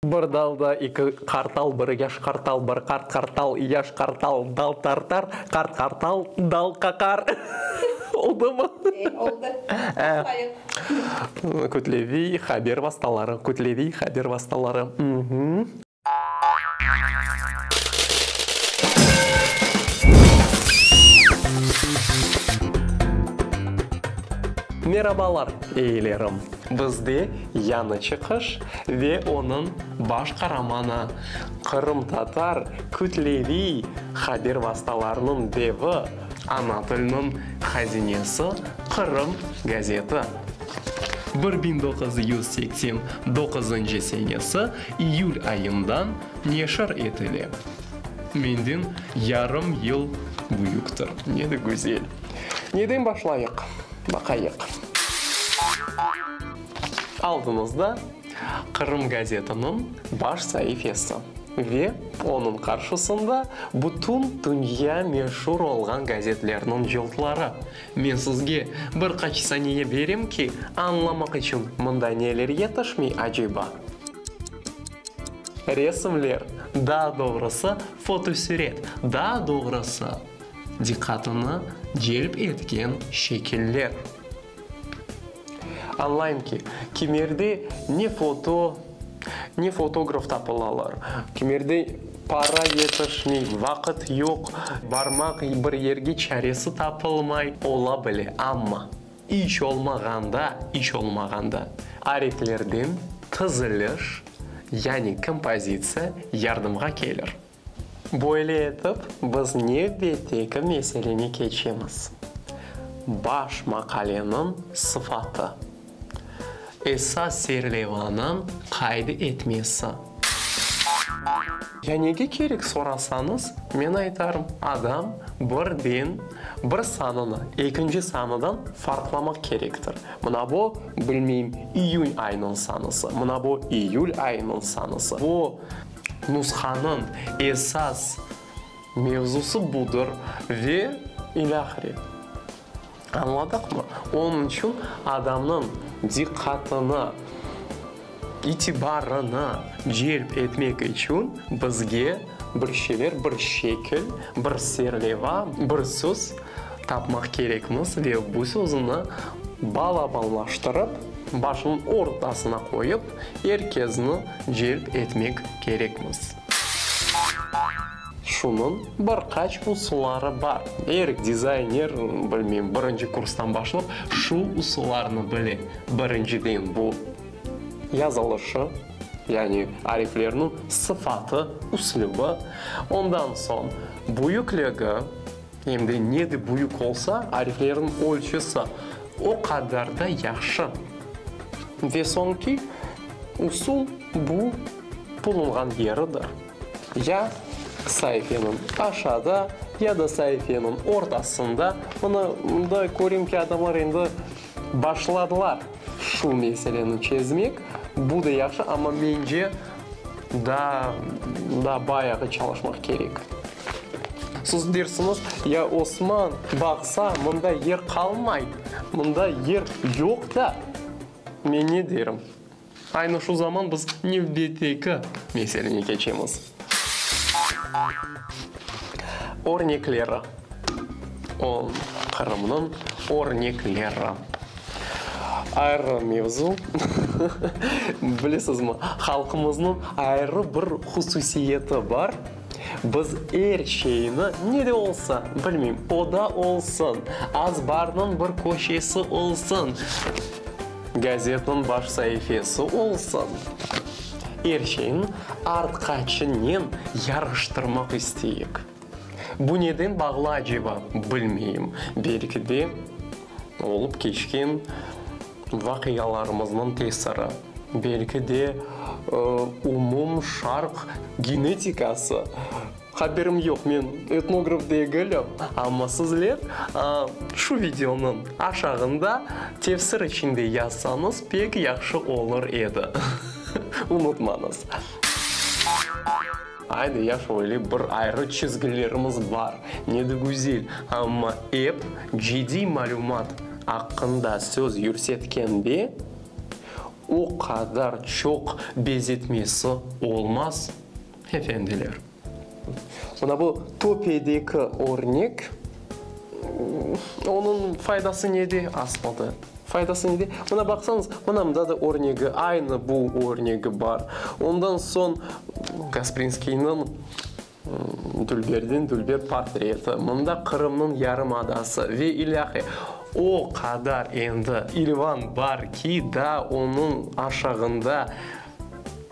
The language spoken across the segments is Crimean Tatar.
Bir dalda eki qartal, bir yaş qartal, bir qart qartal, yaş qartal dal tartar, qart qartal dal qaqar. Oldumı? E, oldı. Başlayıq. Kütleviy haber vastaları, kütleviy haber vastaları. Merabalar, eyilerim! Bizde yañı çıqış ve onıñ baş qaramanı, qırımtatar kütleviy haber vastalarınıñ devi, ana tilniñ hazinesi Qırım gazeti. Bir biñ doquz yüz seksen doquzıncı senesi İyül ayından neşir etile. Menden yarım yıl büyüktir. Ne de güzel. Neden başlayıq? Baqayıq. Aldıñızda Qırım gazetiniñ baş saifesi ve onıñ qarşısında bütün dünya meşur olğan gazetlerniñ cıltları, Men sizge bir qaç saniye berem ki, añlamaq içün mında neler yetişmey aceba? Resimler, daa doğrusı, fotosüret, daa doğrusı, diqqatını celp etken şekiller. Añlayım ki, kimerde ne foto, ne fotograf tapılalar. Kimerde para yetişmey, vaqıt yoq. Barmaq bir yerge çaresi tapılmay. Ola bile, amma iş olmağanda, iş olmağanda ariflerden tiziliş, yani kompozitsiya yardımğa kelir. Böyle etip, biz nevbetteki meseleni keçemiz, baş maqaleniñ sıfatı, esas serlevanıñ qayd etmesi. Ya nege kerek sorasañız, men aytarım, adam birden bir sanını ekinci sanıdan farqlamaq kerektir, mına bu, bilmeyim, iyün ayınıñ sanısı, mına bu, iyül ayınıñ sanısı, bu, Nushanıñ esas mevzusı budır ve ilâhre. Añladıqmı? Onıñ içün adamnıñ diqqatını, itibarını celp etmek içün bizge bir şeyler, bir şekil, bir serleva, bir söz tapmaq kerekmiz ve bu söznü balabanlaştırıp, başınıñ ortasına qoyıp, Er kesni celp etmek kerekmiz. Şunıñ bir qaç usulları bar. Er dizayner, bilmeyim, birinci kurstan başlap şu usullarnı bile. Birinciden, bu yazılışı, yani ariflerniñ sıfatı, üslübi. Ondan soñ büyükligi. Em de ne de büyük olsa, ariflerniñ ölçüsi o qadar da yahşı. Ve soñki usul, bu bulunğan yeridir, ya saifeniñ aşağıda, ya da saifeniñ ortasında. Mına, mında köreyim ki, adamlar endi. Başladılar şu meseleni çezmek. Bu da yahşı, amma mence daa, daa bayağı çalışmaq kerek. Siz dersiniz, ya Osman, baqsa, mında yer qalmay, mında yer yoq da. Men ne derim? Aynı şu zaman biz nevbeteki meselene keçemiz. Örnekleri. On. Qırımnıñ örnekleri. Ayrı mevzu. Bilesizmi, halqımıznıñ ayrı bir hususiyeti bar. Biz er şeyni, ne de olsa, bilmeyim, oda olsun, azbarnıñ bir köşesi olsun, gazetniñ baş saifesi olsun, er şeyni artqaçınen yarıştırmaq isteyik. Bu neden bağlı aceba, bilmeyim, belki de, olıp keçken, Vaqialarımıznıñ tesiri, belki de, umum Şarq genetikası. Haberim yoq, men etnograf degilim. Amma sizler şu videonıñ aşağında tefsir içinde yazsañız pek yahşı olur edi. Unutmañız. Ayda yaş öyle bir ayrı çizgilerimiz bar, ne de güzel. Amma ep cıdiy malümat aqqında söz yürsetkende, o qadar çoq bezetmesi olmaz, efendiler. Mına bu töpedeki örnek Onıñ faydası nede? Aslında faydası nede? Mına baqsañız, mına mında da örnegi, aynı bu örnegi bar. Ondan soñ Gasprinskiyniñ Dülberdiñ Dülber portreti, mında Qırımnıñ yarımadası ve ilâhre o qadar endi ilvan bar ki, daa onıñ aşağında,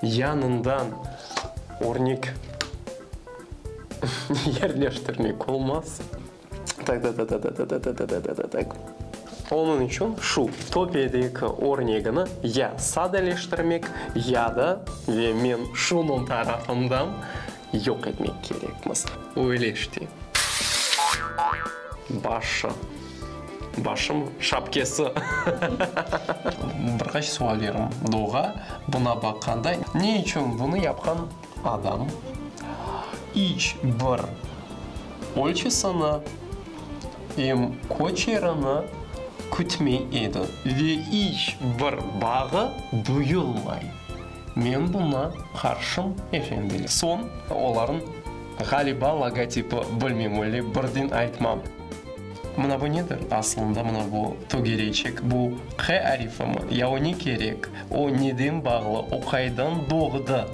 yanından örnek. Yerleştirmek olmaz. Taktaktaktaktaktaktaktak. Onıñ içün şu töpedeki örnegini ya sadeleştirmek, ya da, ve men şunıñ tarafından, yoq etmek kerekmiz. Öyle işte. Başı. Başımı? Şapkesi. Bir qaç suallerim doğa buna baqqanda. Ne içün bunı yapqan? Adam, iç bir ölçüsini em köçerini kütmey edi. Ve iç bir bağı duyulmay. Men buña qarşım, efendiler. Soñ olarnıñ, ğaliba, logotipi, bilmem, öyle birdin aytmam. Mına bu nedir? Asılında mına bu tögerecek, bu Q arifimi? Ya o ne kerek? O neden bağlı? O qaydan doğdı?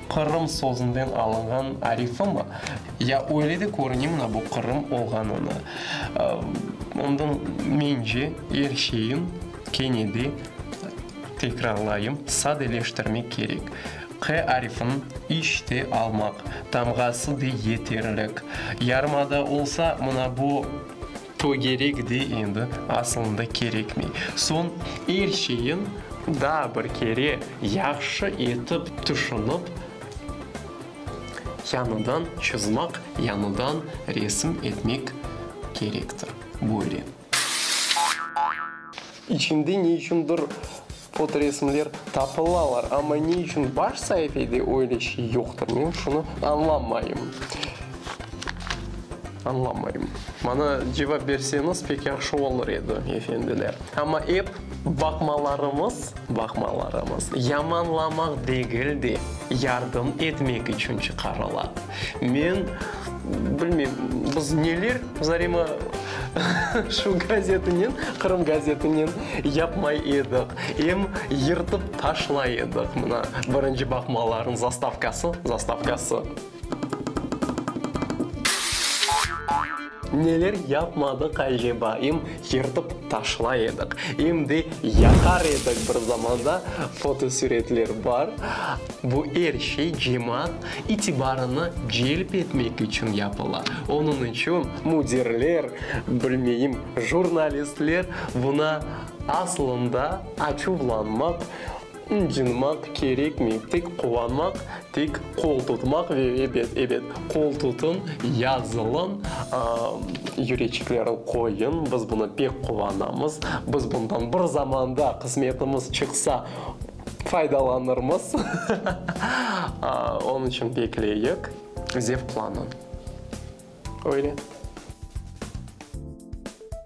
Qırım sözünden alınğan arifimi? Ya öyle de körüne mına bu Qırım olğanını? Ondan mence er şeyin kene de tekrarlayım, sadeleştirmek kerek. Q arfin iş te almaq tamğası de yeterlik. Yarımada olsa mına bu to gerek de endi, asılında kerekmey. Soñ er şeyin daa bir kere yahşı etip tüşünip, yañıdan çızmaq, yañıdan resim etmek kerektir. Böyle. İçinde ne içündir fotoresimler tapılalar, amma ne içün baş saifede öyle şey yoqtır, men şunı añlamayım. Añlamayım. Maña cevap berseñiz pek yahşı olur edi, efendiler. Amma ep baqmalarıñız, baqmalarıñız yamanlamaq degil de, yardım etmek içün çıqarıla. Men bilmeyim, biz neler Zarema şu gazetinen, Qırım gazetinen yapmay edik. Em yırtıp taşlay edik, mına, birinci baqmalarınız, zastavkası, zastavkası. Neler yapmadıq aceba? Em yırtıp taşlay edik, em de yaqar edik bir zamanda, fotosüretler bar. Bu er şey cemaat itibarını celp etmek içün yapıla. Onıñ içün müdirler, bilmeyim, jurnalistler buna aslında açuvlanmaq, ıncınmaq kerekmey. Tek quvanmaq, tek qol tutmaq ve ebet, ebet, qol tutıñ, yazılıñ, yüreçiklerin qoyuñ, biz buna pek quvanamız, biz bundan bir zamanda qısmetimiz çıqsa, Faydalanırmız. Onıñ içün bekleyik. Zevqlanıñ. Öyle.